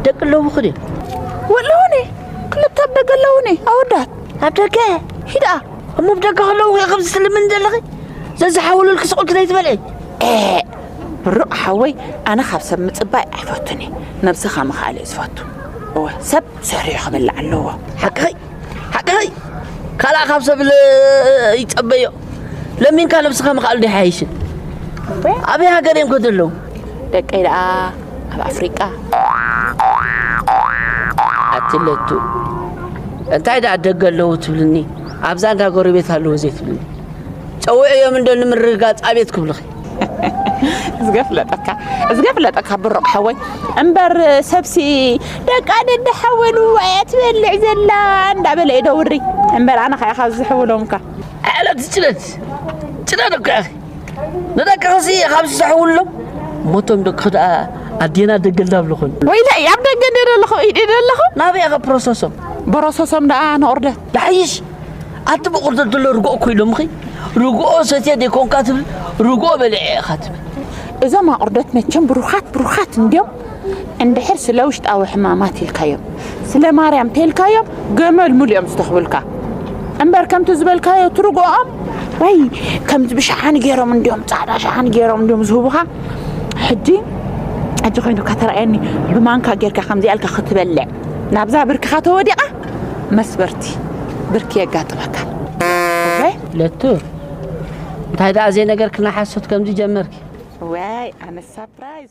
ደቂ ኣለውኹ ድዮም ወለውኒ ክልተ ኣብ ደገ ኣለውኒ ኣወዳት ኣብ ደገ ሂዳ እሞ ብ ደገ ከለውኹ እየ ከምዚ ትልምን ዘለኺ ዘዝሓውሉልኪ ስቑልኪ ዘይትበልዒ ብሩቕ ሓወይ ኣነ ካብ ሰብ ምፅባይ ኣይፈቱን እየ ነብስኻ ምኽኣል እዩ ዝፈቱ እወ ሰብ ሰሪዑ ክበልዕ ኣለዎ ሓቅኸይ ሓቅኸይ ካልኣ ካብ ሰብ ይፀበዮ ለሚንካ ነብስኻ ምኽኣሉ ዶ ይሓይሽን ኣበይ ሃገር እዮም ከ ዘለዉ ደቀይ ደኣ ኣብ ኣፍሪቃ ኣትለቱ እንታይ ደኣ ደገ ኣለዉ ትብልኒ ኣብዛ እንዳ ጎረቤት ኣለዉ ዘይትብልኒ ጸውዕዮም እንዶ ንምርግጋጽ ኣቤት ክብልኺ ዝገፍለጠካ ዝገፍለጠካ ብሩቕ ሓወይ እምበር ሰብሲ ደቃ ደደ ሓወሉ ኣያ ትበልዕ ዘላ እንዳበለ እዩ ደውሪ እምበር ኣነ ከኣ ካብ ዝሕውሎምካ ዕለት ጭነት ጭነት እኮ ንደቂ ክሲ ካብ ዝሰሕውሎም ሞቶም ደቂ ክድኣ ኣዴና ደገል ዳብልኹን ወይለ ኣብ ደገ ደለኹ ኢድ ደለኹ ናበይ ኢኻ ፕሮሰሶም ፕሮሰሶም ደኣ ንኦርደት ዳሕይሽ ኣቲ ብቁርደት ደሎ ርግኦ ኮይሎምኺ ርግኦ ሰትየ ደይኮንካ ትብል ርግኦ በሊዐ ኢኻ ትብል እዞም ኣቁርደት መቸም ብሩኻት ብሩኻት እንዲዮም እንድሕር ስለ ውሽጣዊ ሕማማት ኢልካዮም ስለ ማርያም ተልካዮም ገመል ሙሉ እዮም ዝተኽብልካ እምበር ከምቲ ዝበልካዮ ትርግኦም ወይ ከምዚ ብሸሓኒ ገይሮም እንዲዮም ፃዕዳ ሸሓኒ ገይሮም እንዲዮም ዝህቡኻ ሕጂ ሕጂ ኮይኑካ ተረኣየኒ ብማንካ ጌርካ ከምዚኣ ኢልካ ክትበልዕ ናብዛ ብርክኻ ተወዲቓ መስበርቲ ብርኪ የጋጥመካ ለቱ እንታይ ደኣ ዘይነገርክና ሓሶት ከምዚ ጀመርኪ ወይ ኣነ ሳፕራይዝ